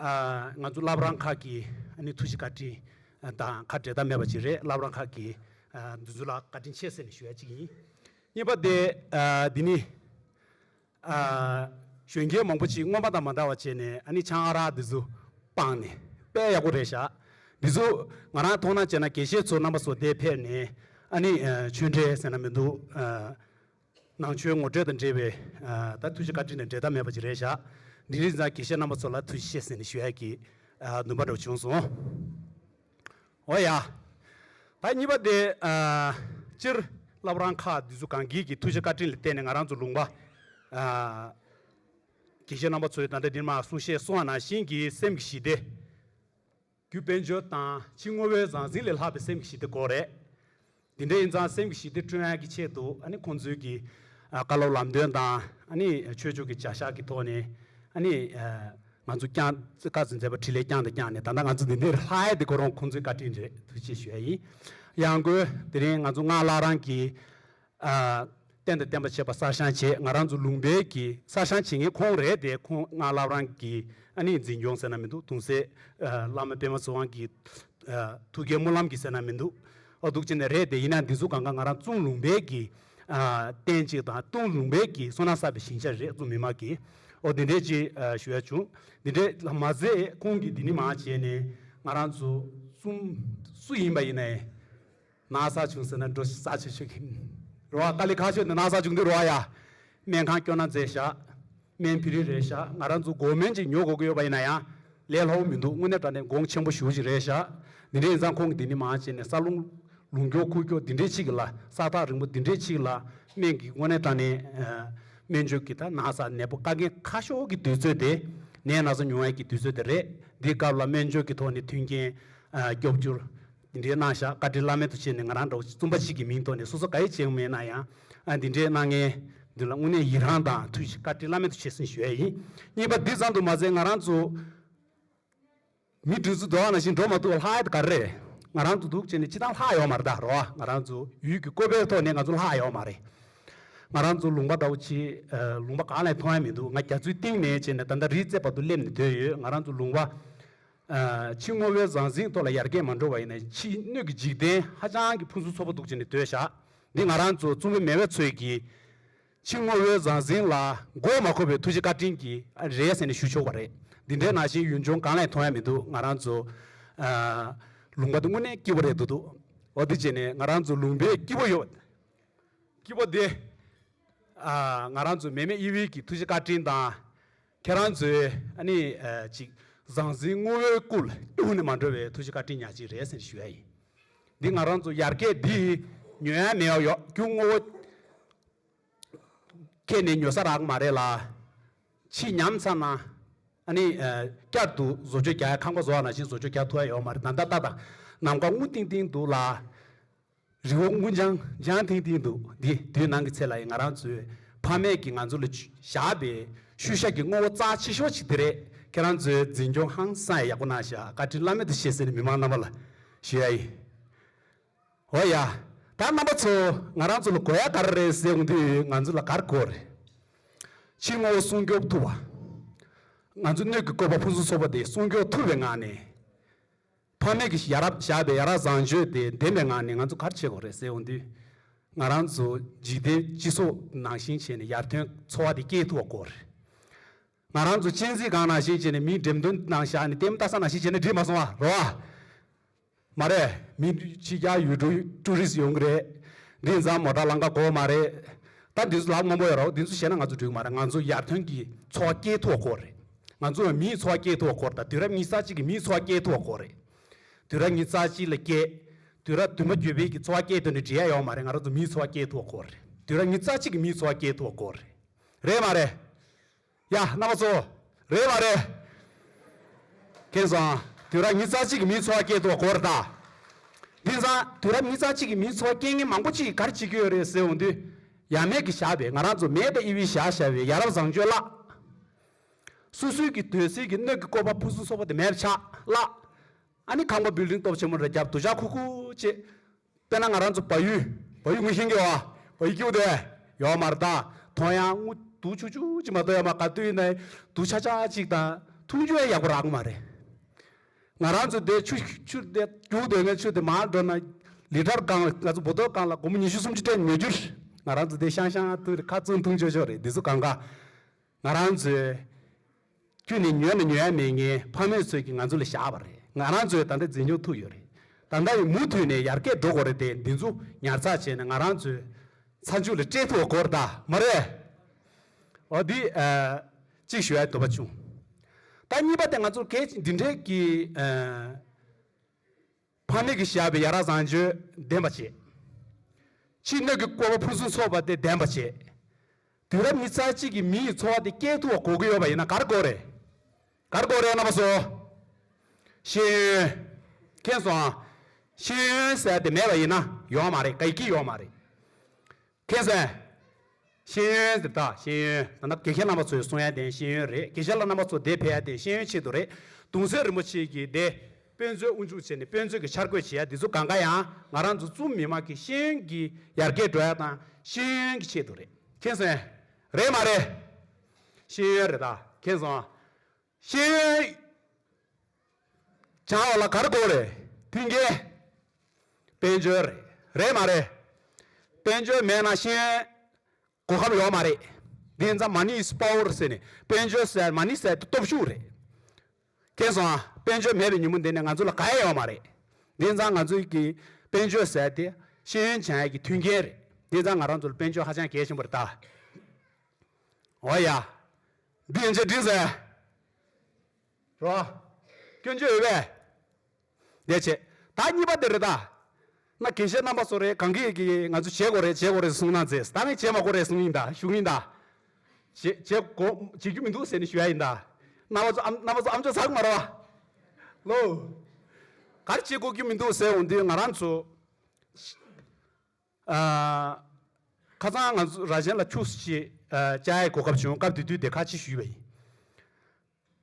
ང་ཚོ་བླ་བྲང་ཁག་གིས་ཐུགས་བཞེད་བཀའ་དྲིན་དང་ཁ་འབྲལ་ཐབས་མེད་པ་ཅིག་རེད་བླ་བྲང་ཁག་གི་འདུ་འཛོམས་ལ་བཀའ་དྲིན་ཆེ་ཟེར་ནས་ཞུ་ཡ་གཅིག་ཡིན། གཉིས་པ། འདི་ནི་གཞོན་སྐྱེས་མང་པོ་ཅིག་སྔོན་མ་དང་མ་འདྲ་བ་བྱས་ནས་ཆང་ཨ་རག་འདི་ཚོ་སྤངས་ནས་དཔེ་ཡག་པོ་རེ་བཞག་འདི་ཚོ་ང་རང་མཐོང་སྣང་བྱས་ན་དགེ་བཤེས་ཚོ་རྣམ་པ་བཟོ་བདེ་ཕེབས་ནས་ཆོས་འབྲེལ་ཟེར་ན་མི་འདུག། ནང་ཆོས་ངོ་སྤྲོད་དང་འབྲེལ་བའི་ད་ཐུགས་རྗེ་བཀའ་དྲིན་ལས་འབྲལ་ཐབས་མེད་པ་ཅིག་རེད་བཞག་འདི་རིགས་ཛངས་ཀྱི་གཤེན་རྣམ་པ་ཚོ་ལ་ཐུགས་རྗེ་ཆེ་ཟེར་ནས་ཞུ་ཡག་གི་འདུན་པ་འགྲོ་བྱུང་སོང། འོ་ཡ། ད་གཉིས་པ་དེ། སྤྱིར་བླ་བ་རང་ཁ་འདི་ཚོ་གངས་སྐྱིད་ཀྱི་ཐུགས་རྗེ་བཀའ་དྲིན་ལས་བརྟེན་ནས་ང་རང་ཚོ་ལུང་པ། དགེ་བཤེས་རྣམ་པ་ཚོའི་ད་ལྟ་འདིར་མ་གསུང་བཤད་གསུང་བ་ནང་བཞིན་གྱི་སེམས་ཀྱི་ཞི་བདེ། རྒྱུ་དཔལ་འབྱོར་དང་ཕྱི་དངོས་བོའི་ཟང་ཟིང་ལས་ལྷག་པའི་སེམས་ཀྱི་ཞི་བདེ་དགོས་རེད། དེ་འདྲ་ཡིན་ཙང་སེམས་ཀྱི་ཞི་བདེ་བསྐྲུན་གྱི་ཆེད་དུ་ཁོང་ཚོའི་གི་བཀའ་སློབ་ལམ་སྟོན་དང་ཆོས་ཕྱོགས་ཀྱི་བྱ་བཞག་གི་ཐོག་ནས་ང་ཚོ་བསྐྱངས་བཀའ་བཙུན་མཛད་པ་ཁྲི་ལས་བསྐྱངས་དང་བསྐྱངས་ནས་ད་ལྟ་ང་ཚོ་འདི་འདྲའི་ལྷ་ཡེ་འདི་གོ་རོང་ཁོང་ཚོའི་བཀའ་དྲིན་རེད་ཐུགས་རྗེ་ཆེ་ཞུ་ཡ་ཡིན། ཡང་སྒོས་དེ་རིང་ང་ཚོ་སྔགས་བླ་རང་གི། གཏན་དང་བརྟེན་པ་བྱེད་པ་གསར་བཤང་བྱེད་ང་རང་ཚོ་ལུང་པའི་གི་གསར་བཤང་བྱེད་མཁན་ཁོང་རེད་དེ་ཁོང་སྔགས་བསླབ་རང་གི་ཨ་ནེ་འཛིན་སྐྱོང་ཟེར་ན་མི་འདུག་དུང་སེ་བླ་མ་པད་མ་ཚེ་དབང་གི་ཐུགས་དགྱེས་སྨོན་ལམ་གི་ཟེར་ན་མི་འདུག་ཨ་དུག་ཅན་ནས་རེད་དེ་ཡིན་ན་འདི་ཚོ་གང་གང་ང་རང་ཙུང་ལུང་པའི་གི་རྟེན་ཅིག་དང་ཏུང་ལུང་པའི་གི་སོ་ན་བསགས་པའི་ཞིང་ཆ་རེད་ཙུང་མི་མ་གི་ཨོ་དེ་འདྲས་ཅིག་ཞུ་ཡ་བྱུང་དེ་འདྲས་ལ་མ་ཟད་ཁོང་གི་དེ་ནི་མ་བྱས་ནས་ང་རང་ཚོ་ཙུང་སུ་ཡིན་པ་ཡིན་ནའི། ན་བཟའ་བྱུང་ཟེར་ན་འགྲོ་བཞིན་ཟ་བྱེད་ཤིག། རོ་བ་ཀ་ལི་ཁ་ཤོད་འདི་ན་བཟའ་བྱུང་འདི་རོ་བ་ཡ། སྨན་ཁང་སྐྱོ་ན་རྫས་བཞག། སྨན་ཕི་རི་རེ་བཞག་ང་རང་ཚོ་སྒོ་སྨན་ཅིག་ཉོ་དགོས་ཀྱི་ཡོད་པ་ཡིན་ན་ཡང། ལས་སླ་བོ་མི་འདུག་དངོས་གནས་དྲ་ནས་དགོངས་ཆེན་པོ་ཞུ་བཞིན་རེ་བཞག། འདི་འདྲའི་ཡིན་ཙང་ཁོང་གིས་འདི་འདི་མང་བྱས་ནས་ས་རླུང། ལུང་སྐྱོག་ཁུག་སྐྱོག་འདི་འདྲས་ཕྱིགས་ལ་ས་ཐག་རིང་པོ་འདི་འདྲས་ཕྱིགས་ལ། སྨན་གྱིས་དངོས་གནས་དྲ་ནས། སྨན་བཅོས་ཀྱིས་ད་ན་བཟའ་ནད་པོ་ཀ་རྒན་ཁ་ཤོག་གི་དུས་ཚོད་དེ། ནད་ན་ཟ་ཉུང་བས་ཀྱི་དུས་ཚོད་དེ་རེད། འདི་སྐབས་ལ་སྨན་བཅོས་ཀྱི་ཐོག་ནས་མཐུན་རྐྱེན། སྐྱོབ་རྒྱུར། འདི་འདྲའི་སྣང་བཞག་བཀའ་དྲིན་བླ་མེད་དུ་ཆེ་ནས་ང་རང་འདྲ་བོ་རྩོམ་པ་ཞིག་གི་མིང་ཐོག་ནས་སོ་སོ་ག་ཡེ་བྱས་ཡོང་མེད་ན་ཡང། འདི་འདྲའི་སྣང་ངའི་མདུན་ལ་དངོས་གནས་ཡི་རངས་དང་མཐུ་ཞིག་བཀའ་དྲིན་བླ་མེད་དུ་ཆེ་ཟིན་ཞུ་ཡ་ཡིན། གཉིས་པ་འདི་ཙམ་དུ་མ་ཟད་ང་རང་ཚོ། མི་བདུན་ཚོ་འགྲོ་བ་ན་བཞིན་འགྲོ་མ་ཐུབ་པ་ལྷག་ཡ་དེ་ག་རེ་རེད། ང་རང་ཚོ་འདུག་བྱས་ནས་ཅི་ཐང་ལྷག་ཡོང་མ་རེད་ད་རོ་ཨ་ང་རང་ཚོ་ཡུལ་གྱི་བཀོད་པའི་ཐོག་ནས་ང་ཚོ་ལྷག་ཡོང་མ་རེད། ང་རང་ཚོ་ལུང་པ་ལྟ་བུ་ཆེ། ལུང་པ་གང་ལས་མཐོང་ཡ་མི་འདུག་ང་རྒྱ་མཚོའི་གཏིང་ནས་བྱས་ནས་ད་ལྟ་རིའི་རྩེ་བར་དུ་སླེབས་ནས་སྡོད་ཡོད་ང་རང་ཚོ་ལུང་པ། ཕྱི་སྔོ་བའི་ཟང་ཟིང་ཐོག་ལ་ཡར་རྒྱས་མ་འགྲོ་བ་ཡིན་ན་ཕྱི་སྣོད་ཀྱི་འཇིག་རྟེན་ཧ་ཅང་གི་ཕུན་སུམ་ཚོགས་པོ་འདུག་ཅེས་ནི་འདོད་ཞག་འདི་ང་རང་ཚོ་རྩོམ་པོ་མེ་བས་ཚོས་ཀྱིས་ཕྱི་སྔོ་བའི་ཟང་ཟིང་ལ་མགོ་མ་འཁོར་བའི་ཐུགས་རྗེ་བཀའ་དྲིན་གྱིས་རེད་ཟེར་ནས་ཞུ་ཆོག་པ་རེད་འདི་འདྲའི་ནང་བཞིན་ཡུལ་ལྗོངས་གང་ལས་མཐོང་ཡ་མི་འདུག་ང་རང་ཚོ་ལུང་པ་འདི་དངོས་གནས་སྐྱིད་པོ་རེད་འདུག་འདུག་འོ་དེ་བྱས་ནས་ང་རང་ཚོ་ལུང་པའི་སྐྱིད་པོ་ཡོད་སྐྱིད་པོ་དེ་ང་རང་ཚོ་མེ་མེ་དབྱི་དབྱི་གིས་ཐུགས་རྗེ་བཀའ་དྲིན་དང། ཁྱེད་རང་ཚོའི་ཨ་ནེ་ཅིག་ཟང་ཟིང་སྔོ་བོའི་སྐུ་ལ་གཏུགས་ནས་མ་འགྲོ་བའི་ཐུགས་རྗེ་བཀའ་དྲིན་ཉག་གཅིག་རེད་ཟེར་ཞུ་ཡ་ཡིན། འདི་ང་རང་ཚོ་ཡར་རྒྱས་འདི་ཉོན་ཡ་མེད་ཡོག་རྒྱུ་སྔོ་བོ་ཁྱེད་ནས་ཉོ་ས་རག་མ་རེད་ལ། ཕྱིས་ཉམས་ཚར་ན་ཨ་ནེ་བསྐྱར་དུ་བཟོ་བཅོས་རྒྱག་ཡ་ཁང་པ་བཟོ་བ་ནང་བཞིན་བཟོ་བཅོས་རྒྱག་ཐུབ་ཡ་ཡོག་མ་རེད་ད་ལྟ་ལྟ་དང་ནམ་མཁའ་སྔོ་ཏིང་ཏིང་འདུག་ལ། རི་བོ་མགོ་འགྱང་འགྱང་ཐིང་ཐིང་འདུག་འདི་དུས་ནང་གི་ཚེ་ལ་ཡང་ང་རང་ཚོའི་ཕ་མེས་ཀྱིས་ང་ཚོ་ལ་བཞག་པའི་ཤུལ་བཞག་གི་དངོས་བོ་རྩ་ཆེ་ཤོས་ཤིག་དེ་རེད་ཁྱེད་རང་ཚོའི་འཛིན་སྐྱོང་ཧང་སངས་ཡག་པོ་གནང་ཞེས་བཀའ་དྲིན་བླ་མེད་དུ་བཞེས་ཟེར་ནས་མི་མང་རྣམ་པ་ལ་ཞུ་ཡ་ཡིན། འོ་ཡ། ད་རྣམ་པ་ཚོ་ང་རང་ཚོ་ལ་གོ་ཡ་ག་རེ་རེད་ཟེར་འོང་དུས་ང་ཚོ་ལ་གར་གོ་རེད། ཕྱིའི་དངོས་བོ་སྲུང་སྐྱོབ་ཐུབ་པ། ང་ཚོ་སྣོད་ཀྱི་བཀོད་པ་ཕུན་སུམ་ཚོགས་པ་དེ་སྲུང་སྐྱོབ་ཐུབ་པའི་ངང་ནས། ཕ་མེས་ཀྱིས་ཡ་རབས་བཞག་པའི་ཡ་རབས་བཟང་སྤྱོད་དེ་བདེན་པའི་ངང་ནས་ང་ཚོ་གར་བྱེད་དགོས་རེད་ཟེར་འོང་དུས། ང་རང་ཚོ་འཇིག་རྟེན་སྤྱི་ཚོགས་ནང་བཞིན་བྱས་ནས་ཡར་ཐོན་འཚོ་བ་དེ་སྐྱེལ་ཐུབ་པ་དགོས་རེད། ང་རང་ཚོ་གཅན་གཟིགས་སྒང་ནང་བཞིན་བྱས་ནས་མིའི་འགྲེམས་སྟོན་ནང་བཞག་ནས་ལྟེམ་ལྟ་ས་ནང་བཞིན་བྱས་ནས་འགྲིག་མ་སོང་བ་རེད་བ། མ་རེད། མི་ཕྱི་རྒྱ་ཡུལ་གྲུ་ཀྲུའུ་རིས་ཡོང་གི་རེད། འདི་མཛངས་མོ་དྲ་ལང་ཀ་གོ་མ་རེད། ད་འདི་ཚོ་ལག་སྔོན་པོ་ཡོད་རོགས་འདི་ཚོ་བྱས་ན་ང་ཚོ་འགྲིག་མ་རེད་ང་ཚོ་ཡར་ཐོན་གྱི་འཚོ་བ་སྐྱེལ་ཐུབ་པ་དགོས་རེད། ང་ཚོའི་མིའི་འཚོ་བ་སྐྱེལ་ཐོ་སྐོར་དང་དུས་རབས་ཉི་ས་གཅིག་གི་མིའི་འཚོ་བ་སྐྱེལ་ཐོ་སྐོར་རེད། དུས་རབས་ཉི་ས་གཅིག་ལ་སྐྱེལ། དུས་རབས་བདུན་པ་བརྒྱུད་སྤེལ་གྱི་འཚོ་བ་སྐྱེལ་ཐོ་ནི་འབྲེལ་ཡ་ཡོད་མ་རེད་ང་རང་ཚོ་མིའི་འཚོ་བ་སྐྱེལ་ཐོ་སྐོར་རེད། དུས་རབས་ཉི་ས་གཅིག་གི་མིའི་འཚོ་བ་སྐྱེལ་ཐོ་སྐོར་རེད། རེད་མ་རེད། ཡ། རྣམ་པ་ཚོ། རེད་མ་རེད། མཁྱེན་སོང་ཨ། དུས་རབས་ཉི་ས་གཅིག་གི་མིའི་འཚོ་བ་སྐྱེལ་ཐོ་སྐོར་དང། དེང་སང་དུས་རབས་ཉི་ས་གཅིག་གི་མིའི་འཚོ་བ་སྐྱེལ་མཁན་མང་པོ་ཅིག་གར་བྱེད་ཀྱི་ཡོད་རེད་ཟེར་འོང་དུས། ཡ་མེད་ཀྱི་ཞགས་པས་ང་རང་ཚོ་མེད་པའི་དབྱེ་བས་ཞགས་ཞགས་པའི་ཡ་རབས་བཟང་སྤྱོད་བརླགས། སོ་སོའི་གི་དོན་ཟིལ་གྱི་སྣོད་ཀྱི་བཀོད་པ་ཕུན་སུམ་ཚོགས་པ་དེ་མེར་ཆགས་ལ། ཨ་ནི་ཁང་པ་བིལ་ལྡིང་སྟོབས་ཆེན་མོ་རེ་རྒྱབ་ཏུ་བཞག་ཁུག་ཁུག་ཅེས། དཔེར་ན་ང་རང་ཚོ་བ་ཡུལ། བ་ཡུལ་ངུ་ཤིང་གི་བ། བ་ཡུལ་ཀྱི་འུ་དེ། ཡོག་མར་དང་དོང་ཡང་དངུལ་དུག་ཆུག་ཆུག་ཅིག་མ་གཏོགས་ཡང་མ་ག་དུས་ཡིན་ན་དུག་ཆག་ཆག་ཅིག་དང་འཐུང་རྒྱུ་ཡང་ཡག་པོ་རག་གི་མ་རེད། ང་རང་ཚོ་དེ་ཆུ་ཆུ་དེ་རྒྱུག་འདོད་མཁན་ཆུ་དེ་མང་འགྲོ་ན་ལི་ཁྲར་བསྐང་བས་ང་ཚོ་འབོ་དོད་བསྐང་ལ་སྒོར་མོ་ཉི་ཤུ་སུམ་ཅུ་སྤྲད་ཉོ་རྒྱུར་ང་རང་ཚོ་དེ་ཤང་ཤང་དུ་ཁ་བཙུམ་འཐུང་ཆོག་ཆོག་རེད་འདི་ཚོ་གང་དགའ། ང་རང་ཚོས། ཁྱོད་ནི་ཉོས་ན་ཉོ་ཡ་མེད་ངའི་ཕ་མེས་ཚོས་ཀྱིས་ང་ཚོ་ལ་བཞག་པ་རེད། ང་རང་ཚོས་ད་ལྟ་འཛིན་སྐྱོང་ཐུབ་ཡོད་རེད། ད་ལྟ་ཡིན་མུ་མཐུད་ནས་ཡར་རྒྱས་འགྲོ་དགོས་རེད་དེ་འདི་ཚོ་ཉར་ཚགས་བྱས་ནས་ང་རང་ཚོའི་ཚ་མཇུག་ལ་སྤྲད་ཐུབ་དགོས་རེད་དཱ་མ་རེད། འོ་དེ། གཅིག་ཞུ་ཡ་འདོད་པ་བྱུང། ད་གཉིས་པ་དེ་ང་ཚོར་གལ་ཆེ་འདི་འདྲའི་གི། ཕ་མེས་ཀྱི་ཞབས་པས་ཡ་རབས་བཟང་སྤྱོད་ལྡན་པར་བྱེད། ཕྱི་སྣོད་ཀྱི་བཀོད་པ་ཕུན་སུམ་ཚོགས་པ་དེ་ལྡན་པར་བྱེད། དུས་རབས་ཉི་ཚ་གཅིག་གི་མི་ཡི་འཚོ་བ་དེ་སྐྱེལ་ཐུབ་པར་གོ་གི་ཡོད་པ་ཡིན་ན་གར་དགོས་རེད། གར་དགོས་རེད་ན་པ་བཟོ། ཤེས་ཡོན། མཁྱེན་སོང་ཨ། ཤེས་ཡོན་ཟེར་བ་དེ་མེད་པ་ཡིན་ན་ཡོང་མ་རེད་ག་ཡི་གི་ཡོང་མ་རེད། མཁན་ཟེར། ཤེས་ཡོན་ཟེར། དག་ཤེས་ཡོན་ད་ནི་དགེ་རྒན་རྣམ་པ་ཚོས་སྲུང་ཡ་བསྟེན་ཤེས་ཡོན་རེད་དགེ་རྒན་ལ་རྣམ་པ་ཚོ་དེ་ཕེ་ཡ་བསྟེན་ཤེས་ཡོན་ཆེད་དུ་རེད་དུང་བཟེ་རིན་པོ་ཆེ་གིས་དེ་དཔོན་ཚོའི་དབུ་འཇུག་བྱེད་ནས་དཔོན་ཚོས་གི་འཆར་འགོད་བྱེད་ཡ་འདི་ཚོ་གང་ག་ཡང་ང་རང་ཚོ་ཙུམ་མི་མང་གིས་ཤེས་ཡོན་གི་ཡར་རྒྱས་འགྲོ་ཡ་དང་ཤེས་ཡོན་གི་ཆེད་དུ་རེད་མཁན་ཟེར། རེད་མ་རེད། ཤེས་ཡོན་རེད་དགེ་རྒན་ཟེར། ཤེས་ཡོན་བྱ་བ་ལ་གར་དགོས་རེད། མཐུན་རྐྱེན། དཔལ་འབྱོར་རེད། རེད་མ་རེད། དཔལ་འབྱོར་མེད་ན་ཤེས་ཡོན་གོ་ཁབ་ཡོད་མ་རེད། དེ་ཙམ Money is Power ཟེར་ནས་དཔལ་འབྱོར་ཟེར Money ཟེར་དེ་སྟོབས་ཤུགས་རེད། ཁྱེད་སོང་ཨ། དཔལ་འབྱོར་མེད་པའི་ཉིན་མོ་འདི་ནས་ང་ཚོ་ལ་ག་ཡ་ཡོད་མ་རེད། དེ་ཙམ་ང་ཚོའི་གི་དཔལ་འབྱོར་ཟེར་དེ་ཤེས་ཡོན་བྱ་ཡ་གི་མཐུན་རྐྱེན་རེད། དེ་ཙམ་ང་རང་ཚོ་ལ་དཔལ་འབྱོར་ཧ་ཅང་གལ་ཆེན་པོ་རེད་ད། འོ་ཡ། འདི་ཡིན་ཅེས་བྲིས་ཟིན། རོ། སྐྱོན་བརྗོད་འོས་པས། འདས་བྱས། ད་གཉིས་པ་དེ་རེད་ད། ན་གན་བཤད་རྣམ་པ་སོགས་རེད་གང་གི་གི་ང་ཚོས་བྱེད་དགོས་རེད་བྱེད་དགོས་རེད་གསུངས་ན་མཛེས་ད་ནི་བྱེད་མ་དགོས་རེད་གསུངས་ཡིན་ད་ཞུགས་ཡིན་ད། བྱེད་བྱེད་དགོ་བྱེད་རྒྱུ་མི་འདུག་ཟེར་ནས་ཞུ་ཡ་ཡིན་ད། རྣམ་པ་ཚོ་ཨམ་རྣམ་པ་ཚོ་ཨམ་ཅོག་ཟག་མ་རོ། ལོ། ག་རེ་བྱེད་དགོས་རྒྱུ་མི་འདུག་ཟེར་འོང་དུས་ང་རང་ཚོ། ཁ་སང་ང་ཚོ་རྭ་ཅན་ལ་ཕྱུགས་བསུ་ཆེད་བཅའ་ཡས་གོ་སྐབས་བྱུང་སྐབས་དེ་དུས་དེ་ཁ་ཆེ་ཞུས་པ་ཡིན།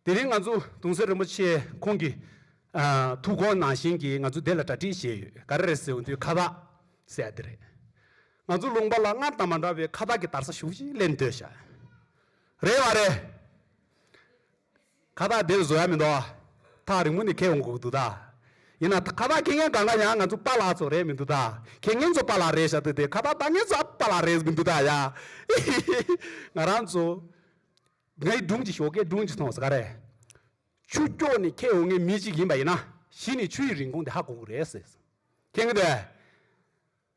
དེ་རིང་ང་ཚོ་གདུང་སྲས་རིན་པོ་ཆེ་ཁོང་གི་ཐུགས་དགོངས་ནང་བཞིན་གྱིས་ང་ཚོ་དེ་ལ་གྲ་སྒྲིག་བྱས་ཡོད་ག་རེ་རེད་ཟེར་བ་དུས་ཁ་བཏགས་གསལ་དེ་རེད། ང་ཚོ་ལུང་པ་ལ་སྔར་དང་མ་འདྲ་བའི་ཁ་བཏགས་ཀྱི་དར་ས་ཞུགས་ཤིག་སླེབས་འདོད་ཤག་རེད་བ་རེད། ཁ་བརྡ་འདིར་བཟོ་ཡ་མི་འདུག། ཐག་རིང་པོ་ནས་ཁེལ་འོང་གི་འདུག་ད། ཡིན་ན་ཁ་བརྡ་ཁེལ་མཁན་གང་གང་ཡང་ང་ཚོ་པ་ལགས་ཚོ་རེད་མི་འདུག་ད། ཁེལ་མཁན་ཚོ་པ་ལགས་རེད་ཤག་ཏུ་དེ་ཁ་བརྡ་བཏང་མཁན་ཚོ་ཨ་པ་ལགས་རེད་མི་འདུག་ད་ཡ། ཧི་ཧི་ཧི་ཧི། ང་རང་ཚོ། ངའི་སྒྲུང་གི་ཞོགས་ཀའི་སྒྲུང་གཅིག་མཐོང་བ་ཟ་ག་རེད། ཆུ་སྐྱོགས་ནས་ཁེལ་འོང་མཁན་མི་གཅིག་ཡིན་པ་ཡིན་ན་གཞི་ནས་ཆུ་ཡི་རིན་གོང་དེ་ཧ་གོ་གི་རེད། ཁེལ་མཁན་དེ།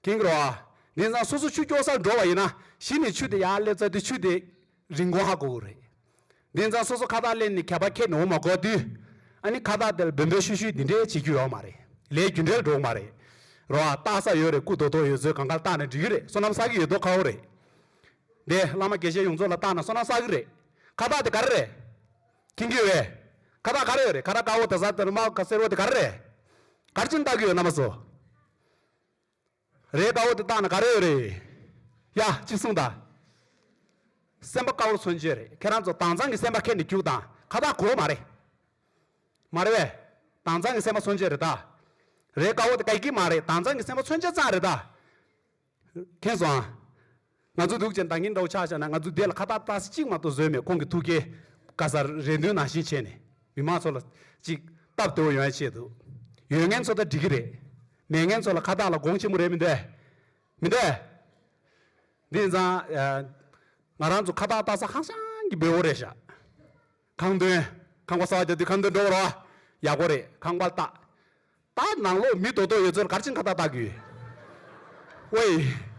དེང་སྐོར་བ། དེང་སང་སོ་སོ་ཆུ་སྐྱོག་སར་འགྲོ་བ་ཡིན་ན་གཞི་ནས་ཆུ་དེ་ཡར་སླེབས་ཚར་དུས་ཆུ་དེ་རིན་གོང་ཧ་གོ་གི་རེད། དེང་སང་སོ་སོ་ཁ་བཏགས་ལེན་ནས་ཁྱད་པར་ཁྱེར་ནས་འོང་མ་གོ་དུས། ཨ་ནི་ཁ་བཏགས་དེ་ལ་འབོད་འབོད་ཤུལ་ཤུལ་འདི་འདྲའི་བྱེད་རྒྱུ་ཡོག་མ་རེད། ལས་རྒྱུ་འབྲས་འགྲོ་གི་མ་རེད། རོ་ཨ་བཏགས་ས་ཡོད་རེད་སྐུ་དོ་དོ་ཡོད་ཟོས་གང་ག་ལ་བཏགས་ནས་འགྲིག་གི་རེད་བསོད་ནམས་བསགས་ཀྱི་ཡོད་དོ་ཁ་བོ་རེད། དེ་བླ་མ་དགེ་བཤེས་ཡོངས་རྫོགས་ལ་བཏགས་ན་བསོད་ནམས་བསགས་ཀྱི་རེད། ཁ་བཏགས་དེ་ག་རེ་རེད། ཁྱིམ་གྱི་བས། ཁ་བཏགས་ག་རེ་ཡོད་རེད་ཁ་ར་དཀར་བོ་དར་ཟ་དར་དམར་བོ་ཁ་སེར་བོ་དེ་ག་རེ་རེད། གར་ཅན་བཏགས་ཀྱི་ཡོད་ན་མ་བཟོ། རེད་དཔའ་བོ་འདི་དག་ནི་ག་རེ་ཡོད་རེད་ཡ། ཅིག་གསུང་དང། སེམས་པ་དཀར་བོ་མཚོན་བྱེད་རེད་ཁྱེད་རང་ཚོ་དྭངས་གཙང་གི་སེམས་པ་ཁྱེར་ནས་རྒྱུག་དང་ཁ་ཐག་གོ་མ་རེད། མ་རེད་བས། དྭངས་གཙང་གི་སེམས་པ་མཚོན་བྱེད་རེད་ད། རེད་དཔའ་བོ་འདི་ག་ཡི་གི་མ་རེད་དྭངས་གཙང་གི་སེམས་པ་མཚོན་བྱེད་ཙང་རེད་ད། ཁེངས་སོང་ཨ། ང་ཚོ་སྡུག་ཅིང་སྡང་གིན་འདྲ་བོ་ཆགས་བཞག་ན་ང་ཚོའི་སྡེ་ལ་ཁ་བཏགས་བཏགས་གཟི་གཅིག་མ་གཏོགས་བཟོས་མེད་ཁོང་གི་ཐུགས་ཀའི་བཀའ་སར་རེ་འདུན་ནང་བཞིན་བྱས་ནས་མི་མང་ཚོ་ལ་ཅིག་སྟབས་བདེ་བོ་ཡོང་ཡ་ཆེད་དུ་ཡོད་ངན་ཚོ་ད་འགྲིག་གི་རེད་མེད་ངན་ཚོ་ལ་ཁ་བཏགས་ལ་དགོངས་ཆེན་པོ་རེད་མི་འདེ་མི་འདེ། འདི་ནི་ཚང་ང་རང་ཚོ་ཁ་བཏགས་བཏགས་ས་ཧང་སང་གི་བེའུ་རེད་ཞག། ཁང་དོན། ཁང་པ་སྲ་བ་རྒྱབ་དུས་ཁང་དོན་འགྲོ་བར་བ། ཡག་པོ་རེད་ཁང་པ་བལྟ། ད་ནང་ལོགས་མི་དོ་དོ་ཡོད་ཚོར་གར་ཕྱིན་ཁ་བལྟ་བལྟ་གུས།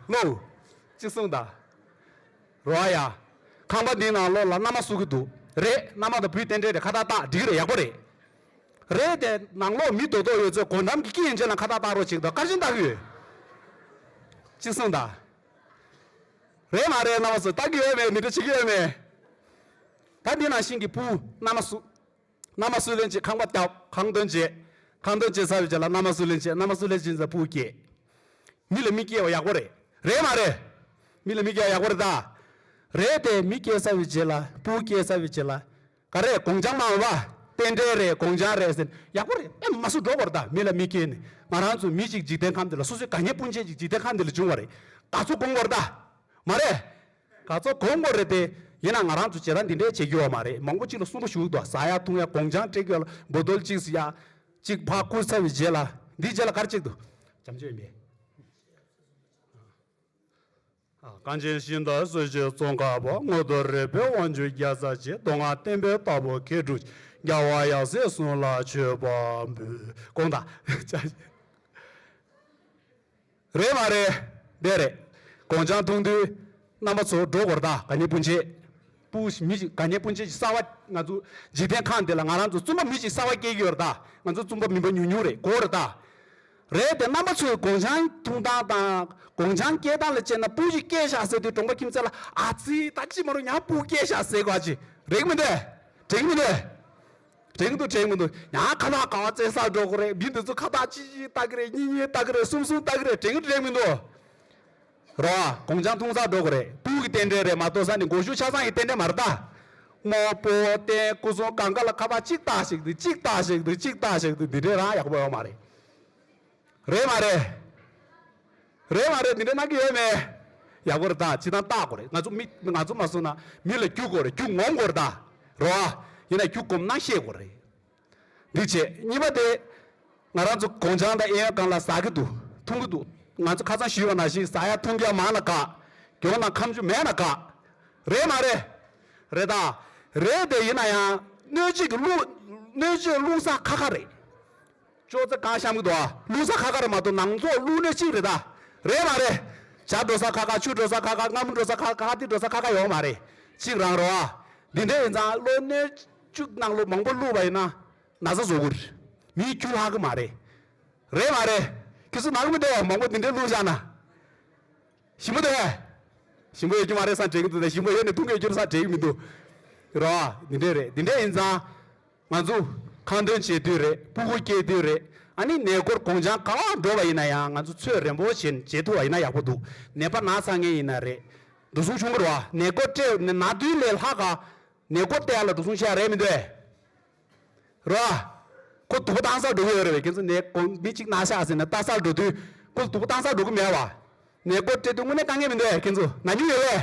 ཝེ། ལོ། ཅིག་གསུངས་ད། རོ་ཨ་ཡ། ཁང་པ་འདིའི་ནང་ལོགས་ལ་མནའ་མ་བསུ་གི་འདུག་རེད་མནའ་མ་དང་བུའི་རྟེན་འབྲེལ་རེད་ཁ་བལྟ་བལྟ་འགྲིག་གི་རེད་ཡག་པོ་རེད། རེད་དེ་ནང་ལོགས་མི་དོ་དོ་ཡོད་ཚོས་སྒོ་འགྲམ་གྱི་སྐྱི་ཡན་ཆད་ལ་ཁ་བལྟ་བལྟ་རོགས་ཅིག་ད་གར་ཕྱིན་བལྟ་གུས། ཅིག་གསུངས་ད། རེད་མ་རེད་མནའ་མ་བསུ་བལྟ་གི་ཡོད་མེད་མི་འདྲི་བྱེད་ཀྱི་ཡོད་མེད། ད་འདི་ན་ཤིང་གི་སྤུའུ། མནའ་མ་སུ། མནའ་མ་སུ་ལེན་བྱེད་ཁང་པ་བཏབ། ཁང་སྟོན་བྱེད། ཁང་སྟོན་བྱེད་ས་ཡོད་བྱས་ལ་མནའ་མ་སུ་ལེན་བྱེད། མནའ་མ་སུ་ལེན་བྱེད་ས་སྤུའུ་སྐྱེས། མི་ལ་མི་སྐྱེ་བ་ཡག་པོ་རེད། རེད་མ་རེད། མི་ལ་མི་སྐྱེ་བ་ཡག་པོ་རེད་ད། རེད་དེ་མི་སྐྱེ་ས་ཡོད་བྱས་ལ་སྤུའུ་སྐྱེ་ས་ཡོད་བྱས་ལ། ག་རེད་དགོང་ཆང་མང་བ། རྟེན་འབྲེལ་རེད་དགོང་ཆང་རེད་ཟེར། ཡག་པོ་རེད། མནའ་མ་སུ་འགྲོ་གོ་རེད་ད་མི་ལ་མི་སྐྱེ་ནས། ང་རང་ཚོ་མི་གཅིག་འཇིག་རྟེན་ཁམས་འདི་ལ་སོ་སོའི་དགའ་ཉེ་སྤུན་མཆེད་ཅིག་འཇིག་རྟེན་ཁམས་འདི་ལ་འབྱུང་བ་རེད། དགའ་ཚོར་སྒོམ་གོ་རེད་ད། མ་རེད། ག་ཚོད་གོ་མགོ་རེད་དེ། ཡིན་ན་ང་རང་ཚོས་བྱེད་སྟངས་འདི་འདྲས་བྱེད་རྒྱུ་བ་མ་རེད་མང་པོ་གཅིག་ལ་གསུམ་པོ་ཞུགས་འདུག་ཟ་ཡག་འཐུང་ཡག་དགོང་ཆང་སྤྲེལ་སྐལ་འབོ་རྡོལ་གཅིག་བཟི་ཡག། གཅིག་ཕག་སྐུར་ཚ་བའི་རྗེས་ལ། འདིའི་རྗེས་ལ་སྐར་གཅིག་འདུག། བྱམས་ཆོས་ཡིན་པས། གངས་ཅན་ཤིང་རྟ་གསོལ་བྱེད་ཙོང་ཁ་བ་སྔོ་དོར་རི་བོའི་དབང་ཕྱུག་རྒྱ་བཟའ་བྱེད་མདོ་སྔགས་བསྟན་པའི་རྟ་ཕོ་མཁས་གྲུབ་ཀྱི་རྒྱལ་བ་ཡབ་སྲས་གསུང་ལ་མཆོད་པ་འབུལ། དགོངས་དག། བྱ། རེད་མ་རེད། དེ་རེད། གོང་ཆང་འཐུང་དུས། རྣམ་པ་ཚོ་འགྲོ་གོར་དག་ག་ཉེ་སྤུན་མཆེད། སྤུ། མི་ཞིག་ག་ཉེ་སྤུན་མཆེད་ཀྱི་གསར་བ། ང་ཚོ། འཇིག་རྟེན་ཁང་འདི་ལ་ང་རང་ཚོ་བཙུན་པ་མི་ཞིག་གསར་བ་སྐྱེས་ཀྱི་ཡོད་རེད་དཱ། ང་ཚོ་བཙུན་པ་མི་འབའ་ཉུང་ཉུང་རེད་གོ་རེད་དཱ། རེད་དེ་རྣམ་པ་ཚོས་གོང་ཆང་འཐུང་སྟངས་དང། གོང་ཆང་སྐྱེལ་སྟངས་ལ་དཔྱད་ན་སྤུ་ཞིག་སྐྱེལ་བཞག་ཟེར་དུས་གྲོང་པ་ཁྱིམ་མཚེས་ལ་ཨ་ཙི་ད་ཅི་མ་རུང་ཡང་སྤུ་སྐྱེལ་བཞག་ཟེར་དགོས་ཨ་ཅི་རེད་མི་འདེད། དྲན་གྱི་མི་འདེད། དྲན་གི་འདུག་དྲན་གི་འདུག་ཡང་ཁ་ཐག་ག་བ་བཙན་ས་འགྲོ་གི་རེད་མི་འདི་ཚོ་ཁ་ཐག་གཅིག་གཅིག་ལྟ་གི་རེད་གཉིས་གཉིས་ལྟ་གི་རེད་གསུམ་གསུམ་ལྟ་གི་རེད་དྲན་གི་དྲན་མི་འདུག་རོ་ཨ་གོང་ཆང་འཐུང་ས་འགྲོ་གི་རེད་སྤུ་གི་རྟེན་འབྲེལ་རེད་མ་གཏོགས་ས་ནི་མགོ་གཞུག་ཆ་ཚང་གི་རྟེན་འབྲེལ་མ་རེད་ད་རྨོ་པོ་རྟེན་སྐུ་གསུམ་གང་ག་ལ་ཁ་ཐག་གཅིག་ལྟ་ཞིག་འདུག་གཅིག་ལྟ་ཞིག་འདུག་གཅིག་ལྟ་ཞིག་འདུག་འདི་འདྲའི་རང་ཡག་པོ་ཡོད་མ་རེད། རེད་མ་རེད། རེད་མ་རེད་དེ་འདྲ་གནང་གི་ཡོད་མེད། ཡག་པོ་རེད་ད་ཅི་ཐང་བལྟ་དགོས་རེད་ང་ཚོ་མི་ང་ཚོ་མ་སོང་ན་མི་ལ་རྒྱུགས་དགོས་རེད་རྒྱུགས་ངོམ་དགོས་རེད་ད་རོ་ཨ། ཡིན་ན་རྒྱུགས་གོམས་གནང་ཤེས་དགོས་རེད། འདི་བྱས་གཉིས་པ་དེ། ང་རང་ཚོ་གོང་བྱང་དང་ཨེ་ཡོན་གང་ལ་ཟ་གི་འདུག་འཐུང་གི་འདུག་ང་ཚོ་ཁ་ཚང་ཞུས་པ་ན་ཞིག་ཟ་ཡ་འཐུང་རྒྱ་མང་ན་དགའ། གྱོང་དང་ཁམས་ཆུ་མེད་ན་དགའ། རེད་མ་རེད། རེད་ད། རེད་དེ་ཡིན་ན་ཡང་གནོད་བྱེད་ཀྱི་གླུ། གནོད་བྱེད་གླུ་ས་ཁ་ཁ་རེད། ཅོག་ཙེ་གང་བཤམས་གི་འདུག་ཨ། བླུག་ས་ཁ་ཁར་མ་གཏོགས་ནང་རྫོགས་བླུག་སྣོད་གཅིག་རེད་ད། རེད་མ་རེད། བྱ་འགྲོ་ས་ཁ་ཁ་ཆུ་འགྲོ་ས་ཁ་ཁ་རྔ་མོ་འགྲོ་ས་ཁ་ཁ་ཁ་ཏི་འགྲོ་ས་ཁ་ཁ་ཡོག་མ་རེད། གཅིག་རང་རོགས་ཨ། འདི་འདྲའི་ཡིན་ཙང་བླུག་སྣོད་བཅུ་ནང་ལོ་མང་པོ་བླུག་པ་ཡིན་ན་ན་ཟ་བཟོ་དགོས། མིའི་རྒྱུ་ལྷག་གི་མ་རེད། རེད་མ་རེད། ཁྱོད་ཚོ་ནང་མི་བདེ་བ་མང་པོ་འདི་འདྲའི་བླུག་བཞག་ན། ཞིམ་པོ་དེ། ཞིམ་པོ་ཡོད་རྒྱུ་མ་རེད་ས་འདྲེས་གི་འདུག་ད་ཞིམ་པོ་ཡོད་ནས་འཐུང་གི་ཡོད་རྒྱུ་རེད་ས་འདྲེས་གི་མི་འདུག། རོགས་ཨ། འདི་འདྲའི་རེད་འདི་འདྲའི་ཡིན་ཙང། ང་ཚོ་ཁང་སྟོན་བྱེད་དུས་རེད་སྤུ་གུ་སྐྱེལ་དུས་རེད་ཨ་ནི་ནད་སྐོར་དགོངས་བྱང་གང་ལ་འགྲོ་བ་ཡིན་ན་ཡང་ང་ཚོ་ཚོད་རན་པོ་བཞིན་བྱེད་ཐུབ་པ་ཡིན་ན་ཡག་པོ་འདུག་ནད་པ་ན་ཚ་ངེས་ཡིན་ན་རེད་འགྲོ་སོང་ཆུང་བར་བ་ནད་སྐོར་སྤྲད་ན་དུས་ལས་ལྷག་ག་ནད་སྐོར་སྟེ་ཡ་ལ་འགྲོ་སོང་བྱེད་ཡག་རེད་མི་འདོད་རེད་བ། ཁོ་དུ་བ་བཏང་སར་འགྲོ་གི་ཡོད་རེད་བས་ཁྱེད་ཚོ་ནད་དགོངས་མི་གཅིག་ན་བཞག་ཟིན་ན་བལྟ་སར་འགྲོ་དུས་ཁོ་ལ་དུ་བ་བཏང་སར་འགྲོ་གི་མེད་བ། ནད་སྐོར་སྤྲད་དུས་དངོས་གནས་དཀའ་ངལ་མི་འདོད་ཁྱེད་ཚོ་ན་ཉུག་ཡོད་བས།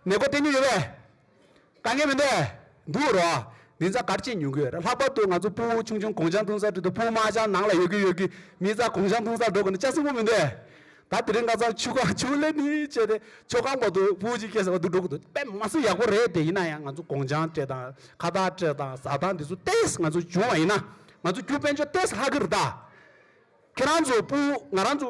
ནས་སྒོ་གཏན་ནས་ཡོད་པས། དཀའ་ངལ་མི་འདུག་འདུག་རོགས། འདི་ཚ་གར་སྐྱེས་ཉུང་གི་རེད་ལྷག་པར་དུ་ང་ཚོ་སྤུན་ཆུང་ཆུང་གོང་ཆང་འཐུང་སར་འགྲོ་དུས་སྤུན་མ་ཆང་ནང་ལ་ཡོད་གི་ཡོད་གི་མི་རྩ་གོང་ཆང་འཐུང་སར་འགྲོ་དགོས་ན་ཅང་སེམས་ཁུར་མི་འདུག་ཨེ། ད་དེ་རིང་ཀ་ཚང་ཆུ་ཁ་ཆུ་ལེ་ནི་བྱས་ཏེ་ཆུ་ཁང་པ་དུ་སྤུན་གཅིག་སྐྱེས་ཟེར་བ་འདུག་འགྲོ་གི་འདུག་དཔེ་མ་ཚིག་ཡག་པོ་རེད་དེ་ཡིན་ན་ཡང་ང་ཚོ་གོང་ཆང་སྤྲད་དང་ཁ་བཏགས་སྤྲད་དང་བཟའ་ཐང་འདི་ཚོ་ལྟས་ང་ཚོ་བྱུང་བ་ཡིན་ན་ང་ཚོ་རྒྱུ་དཔལ་འབྱོར་ལྟས་ལྷག་གི་རེད་ད། ཁྱེད་རང་ཚོ་སྤུན་ང་རང་ཚོ་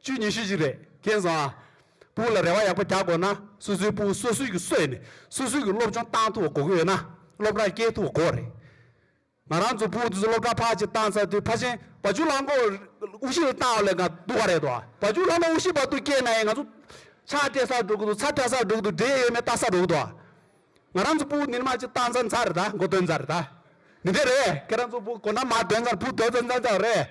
བཅུ་ཉི་ཤུ་ཞིག་རེད་མཁྱེན་སོང་ཨ། སྤུན་ལ་རེ་བ་ཡག་པོ་རྒྱག་དགོས་ན་སོ་སོའི་སྤུན་སོ་སོའི་གི་སོས་ནས་སོ་སོའི་གི་སློབ་སྦྱོང་བཏང་ཐུབ་པ་གོ་གི་ཡོད་ན་སློབ་གྲྭ་སྐྱེལ་ཐུབ་པ་གོ་རེད། ང་རང་ཚོ་སྤུན་དེ་ཚོ་སློབ་གྲྭ་ཕ་གཅིག་བཏང་ཚར་དུས་ཕ་ཆེན་བ་ཆུ་ལྷ་འགོར་དབུ་བཞི་རེ་བཏང་བ་ལས་འགའ་འདུག་ག་རེད་དོ་ཨ། བ་ཆུ་ལྷ་མོ་དབུ་བཞི་བར་དུ་སྐྱེལ་ན་ཡང་ང་ཚོ་ཕྱག་སྤྲད་སར་འགྲོ་གི་འདུག་ཚ་བཀྲ་སར་འགྲོ་གི་འདུག་འབྲས་ཡོད་མེད་བལྟ་སར་འགྲོ་གི་འདུག་ཨ། ང་རང་ཚོ་སྤུན་འདི་ནི་མ་གཅིག་བཏང་ཚར་མཚར་རེད་ད་མགོ་འདོན་ཚར་རེད་ད། མི་འདོད་རེད་ཁྱེད་རང་ཚོ་སྤུན་གོ་ན་མ་འདོན་ཚར་བུ་འདོན་ཚར་མཚར་རེད།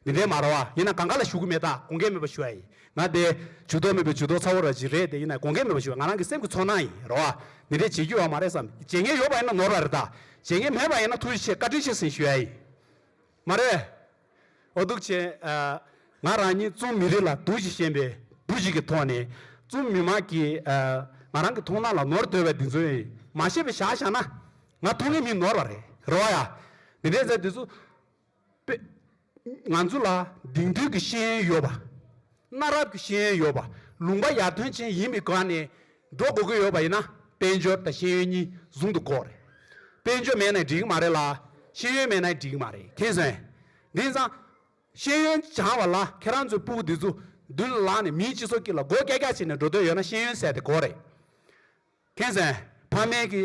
འདི་འདྲའི་མ་རོ་བ་ཡིན་ན་གང་ག་ལ་ཞུ་གི་མེད་ད་དགོངས་འགལ་མེད་པ་ཞུ་ཡ་ཡིན་ང་དེ། ཇུས་གཏོགས་མེད་པའི་ཇུས་གཏོགས་ཚ་བོ་ར་བཞི་རེད་དེ་ཡིན་ན་དགོངས་འགལ་མེད་པ་ཞུ་ཡ་ང་རང་གི་སེམས་ཀྱི་ཚོར་སྣང་ཡིན་རོ་བ་འདི་འདྲའི་བྱེད་རྒྱུ་ཡོག་མ་རེད་བསམ་བྱེད་ངན་ཡོག་པ་ཡིན་ན་ནོར་བ་རེད་ད་བྱེད་ངན་མེད་པ་ཡིན་ན་ཐུགས་རྗེ་ཆེ་བཀའ་དྲིན་ཆེ་ཟིན་ཞུ་ཡ་ཡིན་མ་རེད། འོ་སྡུག་ཆེ། ང་རང་ཉིད་རྩོམ་མི་རིགས་ལ་དུ་ཞིག་ཞེན་པའི་བུ་ཞིག་གི་ཐོག་ནས་རྩོམ་མི་དམངས་ཀྱི་ང་རང་གི་མཐོང་སྣང་ལ་ནོར་དོལ་བའི་འདི་ཚོ་ཡིན་མ་ཤེས་པའི་ཞག་ཞག་ན་ང་ཐུགས་ངན་མིན་ནོར་བ་རེད་རོ་བ་ཡ་འདི་འདྲའི་མཛད་འདི་ཚོ། པས། ང་ཚོ་ལ་དེང་དུས་ཀྱི་ཤེས་ཡོན་ཡོད་པ། གནའ་རབས་ཀྱི་ཤེས་ཡོན་ཡོད་པ་ལུང་པ་ཡར་ཐོན་ཅན་ཡིན་པའི་སྒང་ནས་འགྲོ་དགོས་ཀྱི་ཡོད་པ་ཡིན་ན་དཔལ་འབྱོར་དང་ཤེས་ཡོན་གཉིས་ཟུང་དུ་འགོག་རེད། དཔལ་འབྱོར་མེད་ན་འགྲིག་གི་མ་རེད་ལ། ཤེས་ཡོན་མེད་ན་འགྲིག་གི་མ་རེད་མཁྱེན་སོན། དེང་སང། ཤེས་ཡོན་སྦྱང་བ་ལ་ཁྱེད་རང་ཚོའི་སྤུ་བོ་དེ་ཚོ་མདུན་ལ་ལངས་ནས་མིའི་སྤྱི་ཚོགས་ཀྱི་ལ་མགོ་སྐྱ་སྐྱ་བྱས་ནས་འགྲོ་འདོད་ཡོད་ན་ཤེས་ཡོན་ཟད་དེ་གོ་རེད། མཁྱེན་སོན། ཕ་མེས་ཀྱི།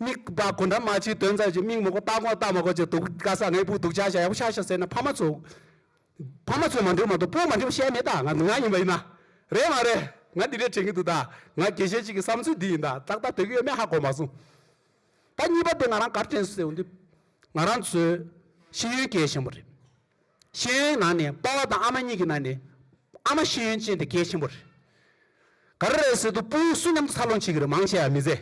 དམིགས་པ་གོ་འདྲ་མ་བྱེད་དོན་ཙམ་གྱིས་དམིགས་མི་གོ་ལྟ་གོ་ལྟ་མ་གོ་ཅི་དུག་དཀའ་ས་ངས་བུ་སྡུག་ཆགས་བྱ་ཡག་པོ་ཆགས་ཤིག་ཟེར་ན་ཕ་མ་ཚོ། ཕ་མ་ཚོས་མ་འདྲིར་མ་གཏོགས་བུ་མ་འདྲིར་བཤད་མེད་ད་ང་ཡིན་པ་ཡིན་ན། རེད་མ་རེད་ང་འདི་འདྲས་དྲན་གྱི་འདུག་ད་ང་དགེ་བཤེས་གཅིག་གི་བསམ་ཚུལ་འདི་ཡིན་ད་ཏག་ཏག་དོད་ཀྱི་ཡོད་མེད་ཧ་གོ་མ་སོང། ད་གཉིས་པ་དེ་ང་རང་གར་དྲན་སོང་ཟེར་བ་འདི། ང་རང་ཚོའི་ཤེས་ཡོན་སྐྱེལ་བཞིན་པ་རེད། ཤེས་ཡོན་གྱི་ནང་ནས་དཔའ་བ་དང་ཨ་མ་གཉིས་ཀྱི་ནང་ནས། ཨ་མ་ཤེས་ཡོན་ཅན་དེ་གལ་ཆེན་པོ་རེད། ག་རེ་རེད་ཟེར་དུས་སྤུན་སུ་མཉམ་དུ་འཚར་ལོངས་བྱེད་ཀྱི་རེད་མང་ཆེ་བ་མི་ཟེར།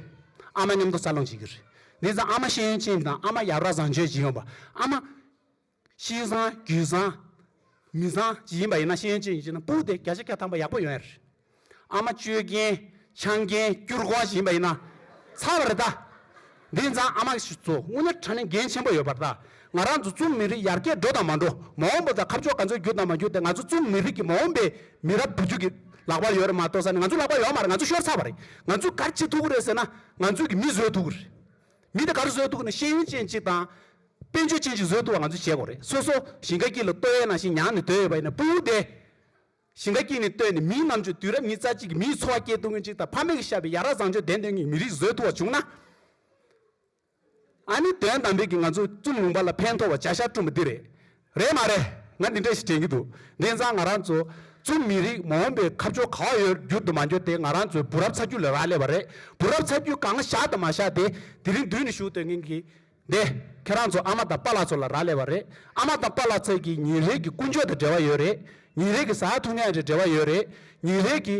ཨ་མ་མཉམ་དུ་འཚར་ལོངས་བྱེད་ཀྱི་རེད། དེ་ཙམ་ཨ་མ་ཤེས་ཡོན་ཅན་དང་ཨ་མ་ཡར་ར་བཟང་སྤྱོད་ཅིག་ཡོང་པ། ཨ་མ། གཤིས་བཟང་རྒྱུད་བཟང། མི་བཟང་ཅིག་ཡིན་པ་ཡིན་ན་ཤེས་ཡོན་ཅན་ཡིན་ཅེ་ན་སྤུན་དེ་བརྒྱ་ཆ་བརྒྱ་ཐམ་པ་ཡག་པོ་ཡོང་ཡ་རེད། ཨ་མ་སྤྱོད་རྒན། ཆང་རྒན། སྐྱུར་གོང་བཞིན་པ་ཡིན་ན། ཚར་བར་གདའ། འདི་ཛངས་ཨ་མ་གི་ཞུ་ཚོ་དངོས་གནས་ཁྲ་ནི་འགན་ཆེན་པོ་ཡོད་པར་གདའ། ང་རང་ཚོ་རྩོམ་མི་རིགས་ཡར་རྒྱས་འགྲོ་དང་མ་འགྲོ། མ་འོངས་པོ་དང་ཁ་ཕྱོགས་ག་ཚོད་འགྱུར་དང་མ་འགྱུར་དེ་ང་ཚོ་རྩོམ་མི་རིགས་ཀྱི་མ་འོངས་པའི་མི་རབས་བུ་རྒྱུད་ཀྱི་ལག་པར་ཡོད་རེད་མ་གཏོགས་ས་ནི་ང་ཚོའི་ལག་པར་ཡོད་མ་རེད་ང་ཚོ་ཤོར་ཚར་བ་རེད། ང་ཚོས་གར་བྱེད་ཐུབ་ཀི་རེད་ཟེར་ན། ང་ཚོས་ཀྱི་མི་བཟོས་ཐུབ་ཀི་རེད། མི་དེ་གར་བཟོས་ཐུབ་ཀི་ན་ཤེས་ཡོན་ཅན་ཅིག་དང། དཔལ་འབྱོར་ཅན་ཅིག་བཟོས་ཐུབ་པ་ང་ཚོས་བྱེད་དགོས་རེད་སོ་སོ་ཞིང་ཁ་སྐྱིད་ལ་ལྟོས་ཡས་ན་ཞིང་ཉང་ནས་སྡོད་ཡོད་པ་ཡིན་ན་སྤུན་དབུག་བདེ། ཞིང་ཁ་སྐྱིད་ནས་བཏོན་ནས་མིའི་ལམ་ཆོད་དུས་རབས་ཉིས་རྩ་གཅིག་གི་མིའི་འཚོ་བ་སྐྱེལ་ཐུབ་མཁན་ཅིག་དང་ཕ་མེས་ཀྱི་ཤ་བའི་ཡ་རབས་བཟང་སྤྱོད་ལྡན་དོན་གཉིས་མི་རིགས་བཟོས་ཐུབ་པ་བྱུང་ན། ཨ་ནི་དོན་དམ་འབྲིང་གིས་ང་ཚོས་བཙུམ་ལུང་པ་ལ་ཕན་ཐོགས་པ་བྱ་ཤ་བསྐྲུན་པ་འདི་རེད། རེད་མ་རེད། ང་འདི་འདྲ་ཞིག་དྲན་གྱི་འདུག་དེང་སང་ང་རང་ཚོ་བཙུམ་མི་རིགས་མ་འོངས་པའི་ཁ་ཕྱོགས་ག་བ་ཡོད་རྒྱུར་དུ་མ་འགྱུར་ཏེ་ང་རང་ཚོའི་བུ་རབས་ཚ་རྒྱུད་ལ་རག་ལས་པ་རེད་བུ་རབས་ཚ་རྒྱུད་གང་བཞག་དང་མ་བཞག་དེ་དེ་རིང་བསྡུས་ནས་ཞུ་འདོད་མཁན་གྱི་འདས། ཁྱེད་རང་ཚོ་ཨ་མ་དང་པཱ་ལགས་ཚོ་ལ་རག་ལས་པ་རེད། ཨ་མ་དང་པཱ་ལགས་ཚོས་ཀྱི་ཉིན་རེ་གི་ཀུན་སྤྱོད་དང་འབྲེལ་བ་ཡོད་རེད། ཉིན་རེ་གི་ཟ་ཐུབ་མཉན་རེད་འབྲེལ་བ་ཡོད་རེད། ཉིན་རེ་གི།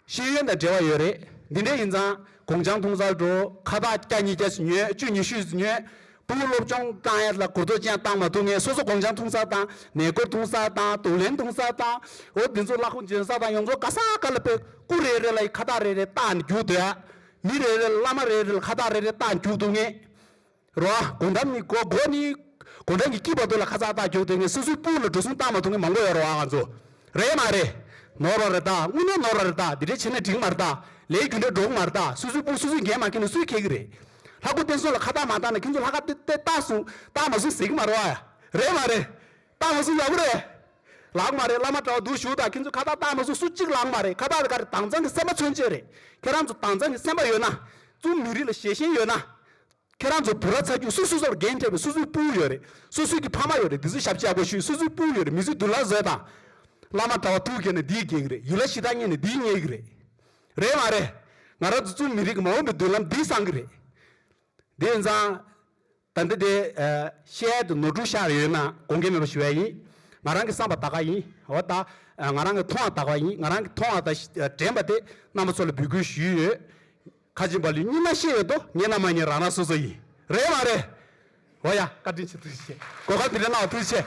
ཤེས་ཡོན་དང་འབྲེལ་བ་ཡོད་རེད། འདི་འདྲས་ཡིན་ཙང། གོང་བྱང་ཐུང་གསར་འགྲོ། ཁ་བརྡ་བསྐྱར་ཉིས་བརྒྱ་ཞིག་ཉོས་བཅུ་ཉི་ཤུ་ཞིག་ཉོས། པུའུ་སློབ་སྦྱོང་བཏང་ཡས་ལ་གོ་རྟོགས་ཅན་བཏང་མ་ཐུབ་ངས་སོ་སོ་གོང་བྱང་ཐུང་གསར་བཏང། ནས་སྐོར་ཐུང་གསར་བཏང་དུག་ལེན་ཐུང་གསར་བཏང། འོ་འདི་ཚོ་བཀླག་ཁུངས་ཅན་གསར་བཏང་ཡོངས་རྫོགས་ག་ས་ག་ལ་དཔེ། སྐུ་རེ་རེ་ལ་ཡི་ཁ་བརྡ་རེ་རེ་བཏང་ནས་རྒྱུགས་སྡོད། མི་རེ་རེ་ལ་བླ་མ་རེ་རེ་ལ་ཁ་བཏགས་རེ་རེ་བཏགས་འཇུག་འདུག་ངེས། རོ། དགོང་དྲམ་ནི་གོ་གོ་ནི། དགོང་དྲམ་གྱི་དཀྱིལ་བར་དུ་ལ་ཁ་བཏགས་བཏགས་འཇུག་འདུག་ངེས་སོ་སོའི་སྤུ་ལ་འགྲོ་གསུམ་བཏགས་མ་འདུག་ངེས་མང་པོ་ཡོད་རོ་ཨང་ཚོ། རེད་མ་རེད། ནོར་བ་རེ་བཏགས་དངོས་གནས་ནོར་བ་རེ་བཏགས་འདི་འདྲའི་བྱེད་ན་འགྲིག་མ་རེ་བཏགས་ལས་རྒྱུ་འབྲས་འགྲོ་གི་མ་རེ་བཏགས་སོ་སོའི་སྤུ་སོ་སོས་འགན་མ་འཁྱེར་ན་སུས་འཁྱེར་གི་རེད། ལྷ་སྐུ་བསྟན་སྲུང་ལ་ཁ་བཏགས་མ་བཏགས་ན་ཁྱོད་ཚོ་ལྷ་ཁ་བཏགས་སྲུང་བཏགས་མ་སྲུང་ཟེར་གི་མ་རོ་ཨ། རེད་མ་རེད། སྟག་མོ་སུ་ཡག་པོ་རེད། ལགས་མ་རེད་བླ་མ་དྲྭ་བ་འདུག་བཞུགས་དང་ཁྱེད་ཚོས་ཁ་བརྡ་སྟག་མོ་སུ་སུ་གཅིག་ལགས་མ་རེད་ཁ་བརྡ་འགའ་རེ་དྭངས་གཙང་གི་སེམས་པ་མཚོན་ཆེད་རེད་ཁྱེད་རང་ཚོ་དྭངས་གཙང་གི་སེམས་པ་ཡོད་ན། རྩོམ་ལུས་རིགས་ལ་ཞེ་ཞེན་ཡོད་ན། ཁྱེད་རང་ཚོ་བུ་ར་ཚ་རྒྱུད་སུ་སུ་སོར་རྒན་བྱས་པའི་སུ་སུའི་སྤུན་ཡོད་རེད་སུ་སུའི་གི་ཕ་མ་ཡོད་རེད་འདི་ཚོ་ཞབས་ཕྱི་ཡག་པོ་ཞུས་སུ་སུའི་སྤུན་ཡོད་རེད་མི་ཚོས་དུ་ལ་བཟོས་དང། བླ་མ་དྲྭ་བ་ཐུགས་གྱེས་ནས་འདིའི་གེགས་རེད་ཡུལ་ལ་ཞི་དར་རྙེད་ནས་འདིའི་རྙེད་གི་རེད། རེད་མ་རེད། ང་རང་ཚོ་རྩོམ་མི་རིགས་ཀྱི་མ་འོངས་པའི་མདུན་ལམ་འདིས་བསང་གི་རེད། དེ་བས་ཙང། ད་འདི་དེ། ཤེལ་དུ་ནོར་འབྲུ་ཤར་ཡོད་ན་དགོངས་འགལ་མེད་པ་ཞུ་བ་ཡིན། ང་རང་གི་བསམ་པ་དག་ག་ཡིན། འོ་ད། ང་རང་གི་མཐོང་བ་དག་ག་ཡིན་ང་རང་གི་མཐོང་བ་དང་དྲན་པ་དེ་རྣམ་པ་ཚོ་ལ་འབུལ་དགོས་ཞུས་ཡོད། ཁ་ཆེམས་པ་ལུས་སྙིང་ན་ཤེས་ཡོད་དོ་ངེད་རྣམས་མ་ཉེས་རང་རང་སོ་སོ་ཡིན། རེད་མ་རེད། འོ་ཡ། བཀའ་དྲིན་ཆེ་ཐུགས་རྗེ་ཆེ། གོ་སྐབས་འདི་འདྲ་གནང་བ་ཐུགས་རྗེ་ཆེ།